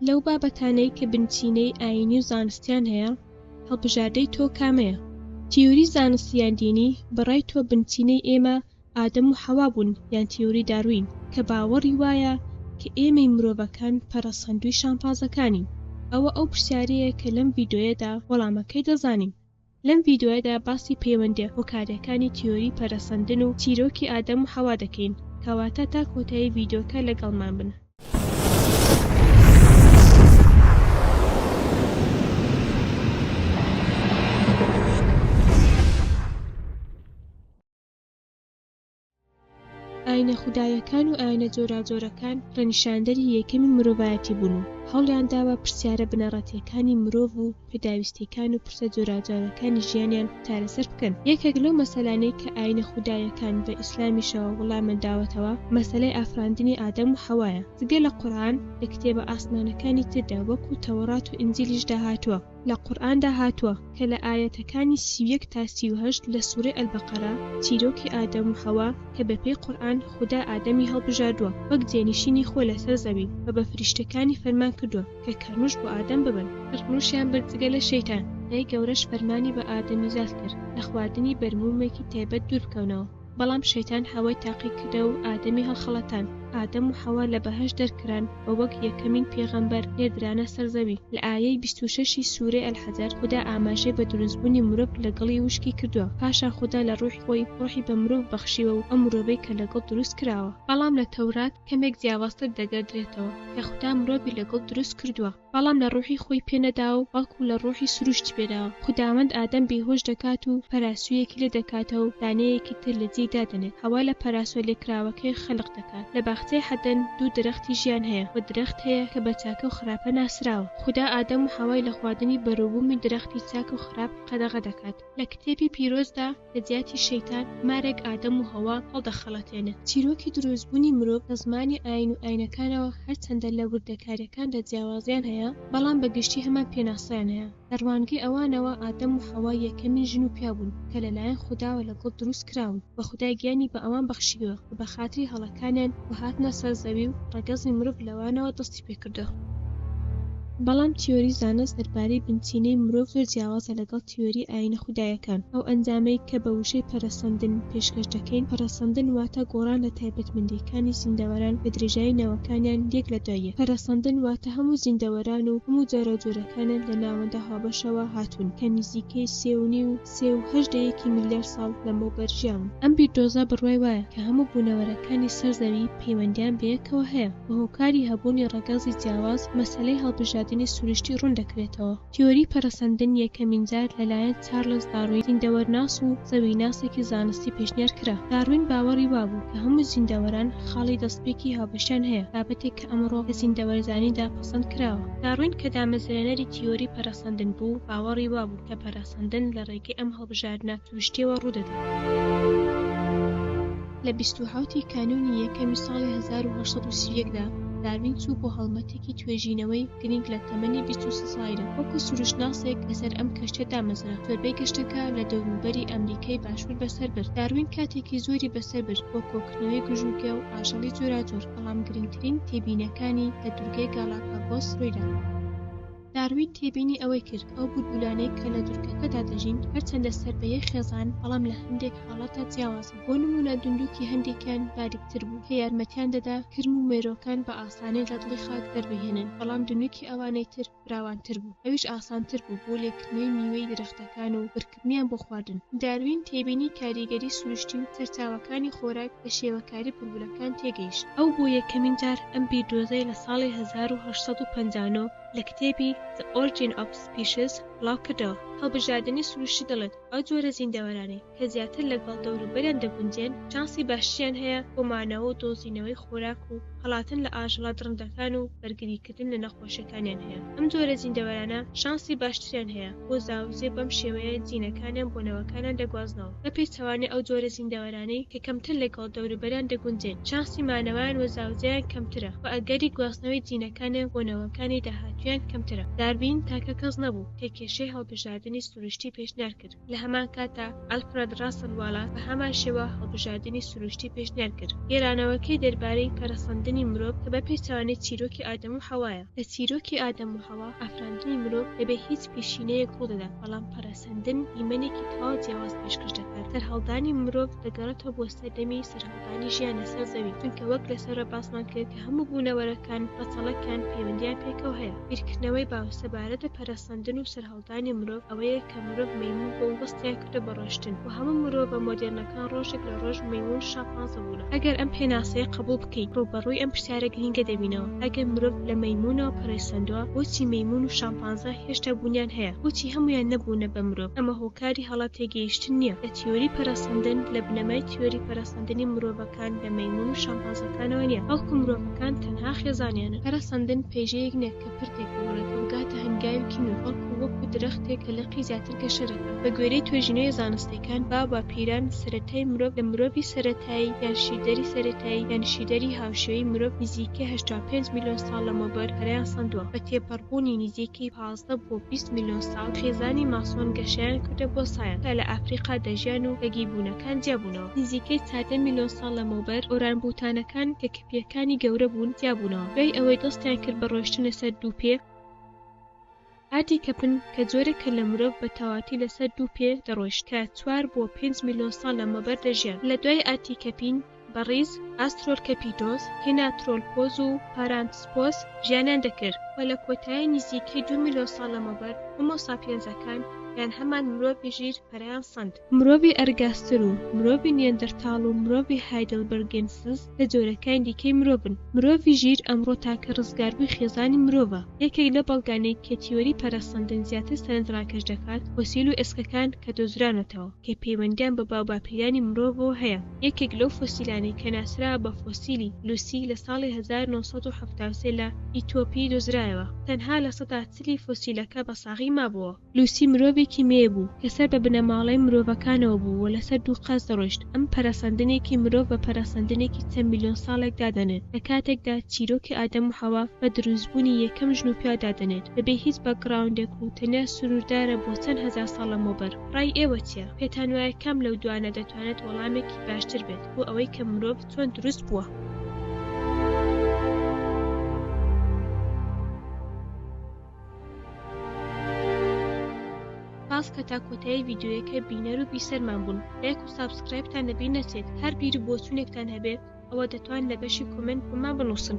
لەو بابەتانەی کە بنچینەی ئایینی و زانستیان هەیە، هەڵبژاردەی تۆ کامەیە؟ تیۆری زانستی یان دینی، بە ڕای تۆ بنچینەی ئێمە ئادەم و حەوا بوون یان تیۆری داروین کە باوەڕی وایە کە ئێمەی مرۆڤەکان پەرەسەندووی شامپازەکانین؟ ئەوە ئەو پرسیارەیە کە لەم ڤیدۆیەدا وەڵامەکەی دەزانین. لەم ڤیدیۆیەدا باسی پەیوەندیە هۆکاریەکانی تیۆری پەرەسەندن و چیرۆکی ئادەم و حەوا دەکەین کەواتە تا کۆتایی ڤیدیۆکە لەگەڵمان بن. ئاینە خودایەکان و ئاینە جۆراجۆرەکان ڕەنیشاندەری یەکەمی مرۆڤایەتی بوون و هەوڵیان داوە پرسیارە بنەڕەتییەکانی مرۆڤ و پێداویستییەکان و پرسە جۆراوجۆرەکانی ژیانیان چارەسەر بکەن. یەکێک لەو مەسەلانەی کە ئاینە خودایەکان بە ئیسلامیشەوە وڵامیان داوەتەوە، مەسەلەی ئافراندنی ئادەم و حەوایە. جگە لە قورئان، لە کتێبە ئاسمانەکانی تردا وەکوو تەوڕات و ئینجیلیشدا هاتووە، لە قورئاندا هاتووە کە لە ئایەتەکانی سی و یەک تا سی و هەشت لە سورەی البقرە چیرۆکی ئادەم و حەوا کە بە پێی قورئان خودا ئادەمی هەڵبژاردووە وەک جێنیشینی خۆی لەسەر زەوین و بە فریشتەکانی فەرمان کردووە کە کەرنوش بۆ ئادەم ببن کەرنوشیان برد جگە لە شەیتان، خودای گەورەش فەرمانی بە ئادەمیزاد کرد لە خواردنی بەرموومێکی تایبەت دوور بکەونەوە. بەڵام شەیتان حەوای تاقی کرد و ئادەمی هەڵخەڵەتان، ئادەم و حەوا لە بەهەشت دەرکران و وەک یەکەمین پێغەمبەر نێردرانە سەر زەوی، لە ئایەی بیست و شەش ی سورەی الحجر خودا ئاماژەی بە دروستبونی مرۆڤ لە گڵی وشکی کردوە، پاشان خودا لە ڕوحی خۆی ڕوحی بە مرۆڤ بەخشیوە و ئەو مرۆڤەی کە لە گڵ دروست کراوە. بەڵام لە تەورات کەمێک جیاوازتر دەگەردرێتەوە کە خودا مرۆڤی لە گڵ دروست کردوە، بەڵام لە ڕوحی خۆی پێ نەدا و بەڵکو لە ڕوحی سروشتی پێ دا. خوداوەند ئادەم بێهۆش دەکات و پەراسویەکی لێ دەکاتە و دانەیەکی تر لە جێی دادەنێت. حەوا لە پەراسوە لێکراوەکەی خەلق دەکات. لە باخچەی حەدەن دوو درەختی ژیان هەیە و درەخت هەیە کە بە چاکە و خراپە ناسراوە. خودا ئادەم و حەوای لە خواردنی بەروبومی درەختی چاک و خراپ قەدەغە دەکات. لە کتێبی پیرۆزدا لە جیاتی شەیتان، مارێک ئادەم و هەوا هەڵدەخەڵەتێنێت. چیرۆکی دروستبوونی مرۆڤ لە زمانی ئایین و ئایینەکانەوە هەرچەندە لە وردەکارییەکاندا جیاوازییان هەیە، بەڵام بە گشتی هەمان پێناسەیان هەیە. لە ڕوانگەی ئەوانەوە ئادەم و حەوا یەکەمین ژن و پیاو بوون کە لەلایەن خوداوە لە گڵ دروست کراون و خودای گیانی بە ئەوان بەخشیوە کە بەخاتری هەڵەکانیان و هاتنە سەر زەوی و ڕەگەزی مرۆڤ لەوانەوە دەستی دەستی پێ کردووە. بەڵام تیۆری زانست دەربارەی بنچینەی مرۆڤ زۆر جیاوازە لەگەڵ تیۆری ئایینە خودایەکان. ئەو ئەنجامەی کە بە وشەی پەرەسەندن پێشکەش دەکەین، پەرەسەندن واتە گۆڕان لە تایبەتمەندییەکانی زیندەوەران بە درێژایی نەوەکانیان یەک لە دوای یەک. پەرەسەندن واتە هەموو زیندەوەران و هەموو جۆراوجۆرەکانیان لە ناوەندە هاوبەشەوە هاتوون کە نزیکەی سێ و نیو، سێ و هەشت دەیەکی ملیار ساڵ لەمەوبەر ژیاون. ئەم بیردۆزە بڕوای وایە کە هەموو بوونەوەرەکانی سەر زەوی، پەیوەندیان بەیەکەوە هەیە و هۆکاری هەبوونی ڕەگەزی جیاواز مەسەلەی هەڵبژاردنی سروشتی ڕوون دەکرێتەوە. تیۆری پەرەسەندن یەکەمینجار لەلایەن چارلس داروین زیندەوەرناس و زەویناسێکی زانستی پێشنیار کرا. داروین باوەڕی وابوو کە هەموو زیندەوەران خاڵی دەستپێکی هاوبەشیان هەیە، بابەتێک کە ئەمڕۆ لە زیندەوەرزانیدا پەسەند کراوە. داروین کە دامەزرێنەری تیۆری پەرەسەندن بوو، باوەڕی وابوو کە پەرەسەندن لە ڕێگەی ئەم هەڵبژاردنە سروشتییەوە ڕوو دەدات. لە بیست و حەوت ی کانوونی یەکەمی ساڵی هەزار و هەشت سەد و سی و یەک دا، داروین چوو بۆ هەڵمەتێکی توێژینەوەی گرینگ لە تەمەنی بیست و سێ ساڵیدا وەکوو سروشتناسێک لەسەر ئەم کەشتیە دامەزرا زۆربەی گەشتەکە لە دەوروبەری ئەمریکای باشوور بەسەر برد داروین کاتێکی زۆری بەسەر برد بۆ کۆکردنەوەی گژوگیا و ئاژەڵی جۆراجۆر بەڵام گرینگترین تێبینەکانی لە دوورگەی گالاپاگۆس روویدا. داروین تێبینی ئەوەی کرد ئەو بولبولانەی کە لە دورگەکەدا دەژین هەرچەندە سەر بە یەک خێزان بەڵام لە هەندێک حاڵەتدا جیاوازن بۆ نمونە دوندوکی هەندێکیان باریکتر بوو کە یارمەتیان دەدا کرم و مێروەکان بە ئاسانی لە دڵی خاک دەربهێنن بەڵام دونوکی ئەوانەی تر فراوانتر بوو ئەویش ئاسانتر بوو بۆ لێکردنەوەی میوەی درەختەکان و کردنیان بۆ خواردن. داروین تێبینی کاریگەری سروشتی و سەرچاوەکانی خۆراک لە شێوەکاری بولبولەکان تێگەیشت. ئەو بۆ یەکەمین جار ئەم بیردۆزەی لە ساڵی هەزار و هەشت سەد و پەنجا و نۆ لە کتێبی The Origin of Species بڵاوکردەوە. هەڵبژاردنی سروشتی دەڵێت، ئەو جۆرە زیندەوەرانەی کە زیاتر لەگەڵ دەوروبەریان دەگونجێن، چانسی باشتریان هەیە بۆ مانەوە و دۆزینەوەی خۆراک و هەڵاتن لە ئاژەڵە دڕندەکان و بەرگریکردن لە نەخۆشەکانیان هەیە ئەم جۆرە زیندەوەرانە شانسی باشتریان هەیە بۆ زاوزێ بەم شێوەیە جینەکانیان بۆ نەوەکانیان دەگوازنەوە بە پێچەوانەی ئەو جۆرە زیندەوەرانەی کە کەمتر لەگەڵ دەوروبەریان دەگونجێن چانسی مانەوەیان وە زاوزێیان کەمترە وە ئەگەری گواستنەوەی جینەکانیان بۆ نەوەکانی داهاتوویان کەمترە دارڤین تاکە کەس نەبوو کە کێشەی هەڵبژاردنی سروشتی پێشنیار کرد لە هەمان کاتدا ئەلفرەد ڕاسڵ واڵاس بە هەمان شێوە هەڵبژاردنی سروشتی پێشنیار کرد، گێرانەوەکەی دەربارەی پەرەسەندنی مرۆڤ کە بە پێچەوانەی چیرۆکی ئادەم و حەوایە. لە چیرۆکی ئادەم و حەوا، ئافراندنی مرۆڤ بە بێ هیچ پیشینەیەک ڕوو دەدات، بەڵام پەرەسەندن دیمەنێکی تەواو جیاواز پێشکەش دەکات، سەرهەڵدانی مرۆڤ دەگەڕێتەوە بۆ سەردەمی سەرهەڵدانی ژیان لەسەر زەوی، چونکە وەک لە سەرەوە باسمان کرد کە هەموو بوونەوەرەکان ڕەچەڵەکیان پەیوەندییان پێکەوە هەیە. بیرکردنەوەی باو سەبارەت بە پەرەسەندن و سەرهەڵدان. دانی مرۆڤ ئەوەیە کە مرۆڤ مەیمون بوو و دەستیان کردە بە ڕۆشتن و هەموو مرۆڤە مۆدێرنەکان ڕۆژێک لە ڕۆژ مەیمون شامپانزە بوونە. ئەگەر ئەم پێناسەیە قەبووڵ بکەین ڕووبەڕووی ئەم پرسیارە گرینگە دەبینەوە، ئەگەر مرۆڤ لە مەیمونەوە پەرەسەندووە بۆچی مەیمون و شامپانزە هێشتا بوونیان هەیە؟ بۆچی هەموویان نەبوونە بە مرۆڤ؟ ئەمە هۆکاری هەڵە تێگەیشتن نییە لە تیۆری پەرەسەندن، لە بنەمای تیۆری پەرەسەندنی مرۆڤەکان لە مەیمون و شامپانزەکانەوە نییە، بەڵکو مرۆڤەکان تەنها خێزانیانن. پەرەسەندن پەیژەیەک نییە کە. پرتێک بماڵێ کە بگاتە هەنگاوێکی نوێ بەڵکو وەکو درەختێک کە لقی زیاتر گەشە دەکات بە گوێرەی توێژینەوە زانستیەکان با باپیران سەرەتای مرۆڤ لە مرۆڤی سەرەتایی یان شیردەری سەرەتایی یان شیردەری هاوشێوەی مرۆڤ نزیکەی هەشتا و پێنج ملیۆن ساڵ لەمەوبەر پەرەیان سەندوە بە تێپەڕبوونی نزیکەی پازدە بۆ بیست ملیۆن ساڵ خێزانی ماسۆن گەشەیان کردە بۆ سایەن کە لە ئەفریقا دەژیان و لە گیبونەکان جیابونەوە نزیکەی چاردە ملیۆن ساڵ لەمەوبەر ئۆرانگوتانەکان کە پێکانی گەورە بوون تیا بوونەوە دوای ئەوەی دەستیان کرد بە ڕۆیشتن لەسەر دوو پێ ئاردی کەپن کە جۆرێکە لە مرۆڤ بە تەواتی لەسەر دوو پێ دەڕۆیشت کە چوار بۆ پێنج میلۆن ساڵ لەمەوبەر دەژیان لە دوای ئاردی کەپین بە ڕیز ئاسترۆلکەپیدۆس هیناترۆلپۆز و پارانتسپۆس ژیانیان دەکرد و لە کۆتایی نیزیکەی دوو میلۆن ساڵ لەمەوبەر هۆمۆساپیەنزەکان یان هەمان مرۆڤی ژیر پەرەیان سەند. مرۆڤی ئەرگاستر و مرۆڤی نیەندەرتاڵ و مرۆڤی هایدلبرگێنسز لە جۆرەکانی دیکەی مرۆڤن. مرۆڤی ژیر ئەمڕۆ تاکە ڕزگاربووی خێزانی مرۆڤە. یەکێک لە بەڵگانەی کە تیۆری پەرەسەندن زیاتر سەرنج ڕاکێش دەکات، فۆسیل و ئێسکەکان کە دۆزرانەتەوە، کە پەیوەندییان بە باوباپیرانی مرۆڤەوە هەیە. یەکێک لەو فۆسیلانەی کە ناسراوە بە فۆسیلی لوسی لە ساڵی هەزار و نۆ سەد و حەفتا و سێ لە ئیتۆپی دۆزرایەوە، تەنها لە سەدا چلی فۆسیلەکە بە ساغی مابووە. لوسی مرۆڤێکی مێ بوو کە سەر بە بنەماڵەی مرۆڤەکانەوە بوو و لەسەر دوو قاز دەڕۆیشت، ئەم پەرەسەندنێکی مرۆڤ بە پەرەسەندنێکی چەند ملیۆن ساڵێک دادەنێت، لە کاتێکدا چیرۆکی ئادەم و حەوا بە دروستبوونی یەکەم ژن و پیاو دادەنێت بەبێ هیچ باکگراوندێک و تەنیا سنووردارە بۆ چەند هەزار ساڵ لەمەوبەر. ڕای ئێوە چییە؟ پێتانوایە کام لەو دوانە دەتوانێت وەڵامێکی باشتر بێت بۆ ئەوەی کە مرۆڤ چۆن دروست بووە؟ سپاس کە تا کۆتایی ڤیدیۆیەکە بینەر و بیسەرمان بوون لایک و سابسکرایبتان لەبیر نەچێت هەر بیر و بۆچوونێکتان هەبێت ئەوە دەتوان لە بەشی کۆمێنت بۆمان بنووسن